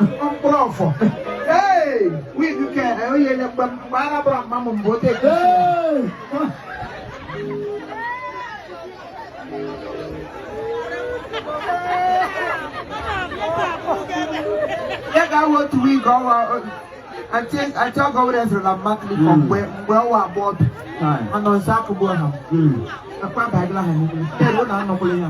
mkpụrụ ọfọ wig ke onye nye mgbe mgbe ara bụrụ mma m mgbe ote ya ga-awụ otu wig ọwa ati ati ọgọ wẹrẹ ẹsẹrẹ la mma kiri fọ mgbe mgbe ọwọ abọ ọbi ọnọ nsa akụgbọ ha akwa baagila ha n'ime tẹlu na anọkwụlị ya.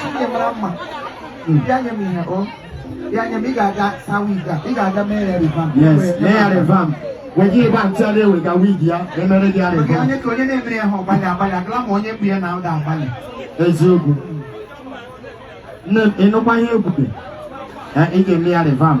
Chineke mara mma bịa nye m ihe o bịa nye m ị ga-aga saa wig a ị ga-aga mee ya revamp Yes, mee ya revamp. Weji ịgba ntị ọla ewega wig ya emere gị ya Maka revamp. onye ka onye na-emere ya ha ọgbalị agbalị agala ma onye mgbu ya na ụda agbalị Eziokwu. Nne m ị nụkwa ihe ekwute. Eh, Ị ga-eme ya revamp.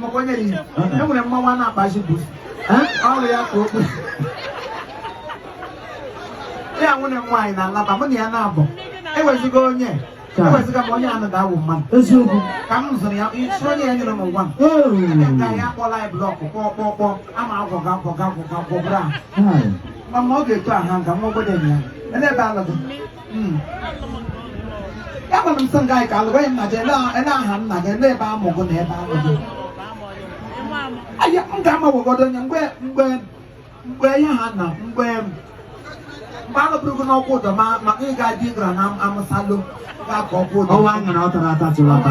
maka onye nyi e nwere mmanwụ a na-akpa isi bụ ọrụ ya ka okwu ya nwunye m nwaanyị na-alaba mụ na ya na-abụ ewezigo onye eweziga m onye anụ ga-awụ mmadụ eziokwu ka m zụrụ ya isi onye ya nyere m ngwa m ka ya kpọla ya block kpọọ kpọọ kpọọ ama agwọga agwọga agwọga gwọbụrụ ahụ mana ọ ga-eto aha nga nwa obodo ya ele ebe a lụ gụ hmm. agwara m sị nga ka alụgwaghị m na je ele aha nna gị ele ebe a mụ gụ na ebe a mụ gụ aya m ga-amawogodo onye mgbe mgbe mgbe ihe ha na mgbe mgbe alụbụrụ gụ n'Okwudor ma maka ịga di ị gara na Amucha lụ ga-akọ Okwudor ọnwa nyere ọ tara ata tụrụ ata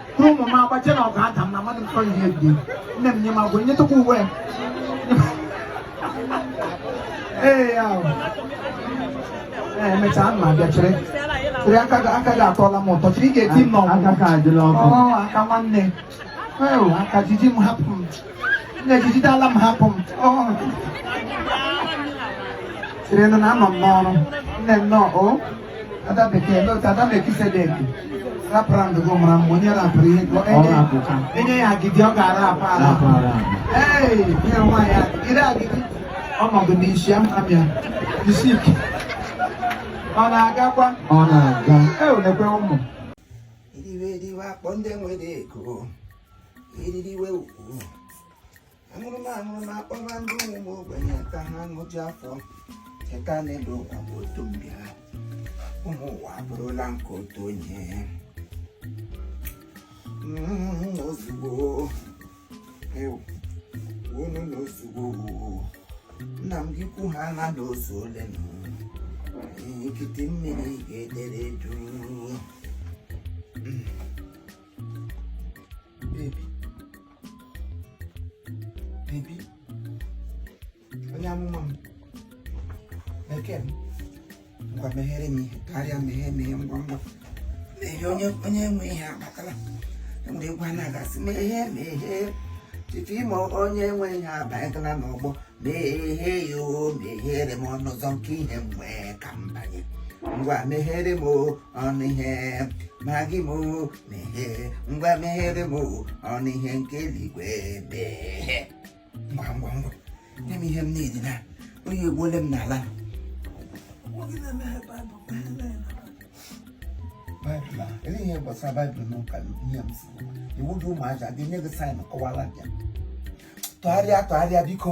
ụmụ m agbaje na ọgụ ada m na mmadụ mfọ ihe dị nne m nye m agwa nyetụkwa uwe ee ya emechaa m abịa chere chere aka gị atọla m ụtọ chere ị ga-eti m n'ọgụ aka nwanne aka jiji m hapụ m na-ejidala m hapụ m sịrị na anọ m n'ọrụ nne nnọọ o ada bekee otu ada mekisedeki rapara ndụgo mara mgbe onye rapụrụ ihe enye ya agidi ọ ga-ara apa ala ee ihe nwaanyị agidi agidi ọnọdụ n'isi amịa isi ike ọ na-agakwa ọ na-aga e olekwe ụmụ eriwe eriwe akpọọ ndị nwere ego eriri iwe ukwu aṅụrụma aṅụrụma akpọba ndị ụmụ ogbenye ka ha ṅụju afọ cheta na elu ụwa bụ otu mbịa ụmụ ụwa abụrụla nke otu onye Mm, ozugbo ewu unu na ozugbo nna m gị kwu ha na na o zuole na nkịtị mmiri ga-edere duu baby baby onye ọma m bekee m ngwa meghere m tụgharịa meghe meghe ngwa ngwa meghe onye onye nwe ihe abatala enwere egwu a na-agụ sị meghe meghe Chief Imo onye nwe ihe abanyegala n'ọgbọ meghe ya o meghere m ọnụ ụzọ nke ihe m nwe ka m banye ngwa meghere m o ọnụ ihe mara gị m mehe ngwa meghere m ọnụ ihe nke eluigwe mehe ngwa ngwa ngwa nye m ihe m na-edi na oyi egbuole m n'ala baịbụl a ele ihe gbasara baịbụl n'ụka ihe m si iwu gị ụmụaja gị nye gị sign kọwara bịa tụgharịa tụgharịa biko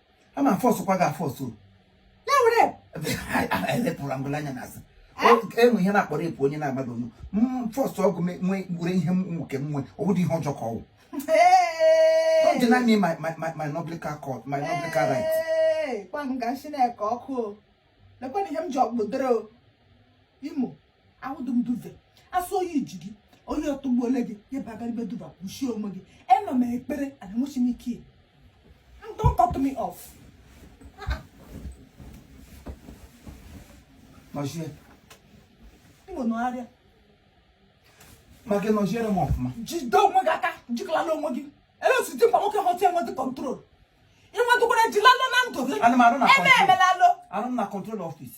a ma fọsụkwa gị afọsụ ya were elepụrụ ngụla anya n'azụ enwe ihe na-akpọ rape onye na-agbado m fọsụ ọgụ nwee were ihe nke m nwee ọ bụrụ ihe ọjọọ ka ọ wụ don't deny me my my my my noblical court my noblical right gwa m ga nsi na-eke ọkụ o lekwana ihe m ji ọkpụdoro Imo awụdụ m duvet a sị oyi ji gị oyi atụgbuole gị ya bụ agaribe duvet kpuchie onwe gị ema m ekpere ana enwechi m ike don't cut me off nọchie ịnwe nọgharịa ma gị nọchiere m ọfụma jide onwe gị aka jikalala onwe gị ele o si dị mkpa nwoke ghọta enwedị control ịnwedụkwara jilalo na ndụ gị Ana m arụ na ebe control. emelalo arụ m na control office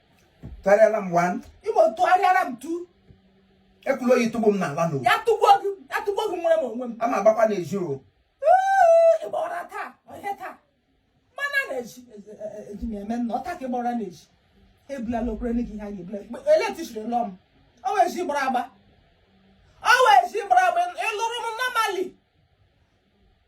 tụgharịara m one Imo tụgharịara m two ekwela oyi tụgbu m n'ala n'o ya tụgbuo gị ya tụgbuo gị nwere m onwe m a ma agbakwa n'ezi o Ee, ịgba ụra taa ọhịa taa mana n'ezi eji m eme na ọ taa ka ịgba ụra n'ezi ebulala okwere nne gị ihe a ga-ebula electrician lụọ m ọ wee ji gbara agba ọ wee ji gbara agba ịlụrụ m normally